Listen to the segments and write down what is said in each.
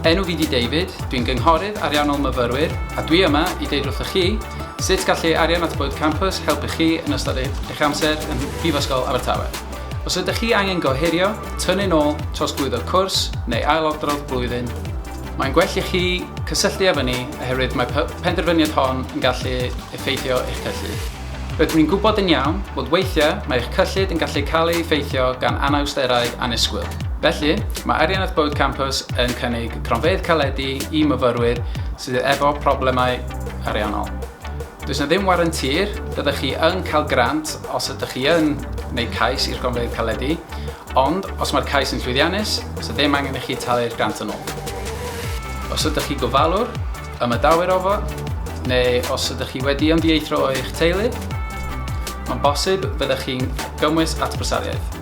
Enw fi di David, dwi'n gynghorydd ariannol myfyrwyr a dwi yma i deud wrthych chi sut gallu arian at Bwyd Campus helpu chi yn ystod eich amser yn Prifysgol Abertawe. Os ydych chi angen gohirio, tynnu'n ôl, trosglwyddo cwrs neu ailadrodd blwyddyn, mae'n gwell i chi cysylltu â ni oherwydd mae penderfyniad hon yn gallu effeithio eich cyllid. Rydyn ni'n gwybod yn iawn fod weithiau mae eich cyllid yn gallu cael ei effeithio gan anawsterau annisgwyl. Felly, mae Ariannaeth Bywyd Campws yn cynnig cronfeydd caledi i myfyrwyr sydd efo problemau ariannol. Does yna ddim warranti'r byddech chi yn cael grant os ydych chi yn wneud cais i'r gronfeydd caledi, ond os mae'r cais yn llwyddiannus, does yna ddim angen i chi talu'r grant yn ôl. Os ydych chi gofalwr, Ymadawyr â fo, neu os ydych chi wedi ymddieithrio o'ch teulu, mae'n bosib byddech chi'n gymwys at brysariaeth.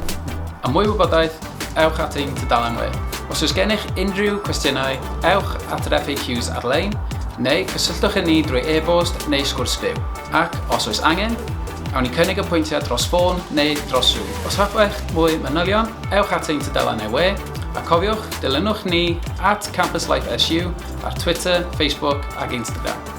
Am mwy o wybodaeth, ewch at ein tudalen we. Os oes gennych unrhyw cwestiynau, ewch at yr FAQs ar-lein, neu cysylltwch â ni drwy e-bost neu sgwrs byw. Ac, os oes angen, awn ni cynnig apwyntiad dros ffôn neu dros Zoom. Os hoffech mwy manylion, ewch at ein tudalen e-we, a cofiwch, dilynwch ni at Campus Life SU, ar Twitter, Facebook ac Instagram.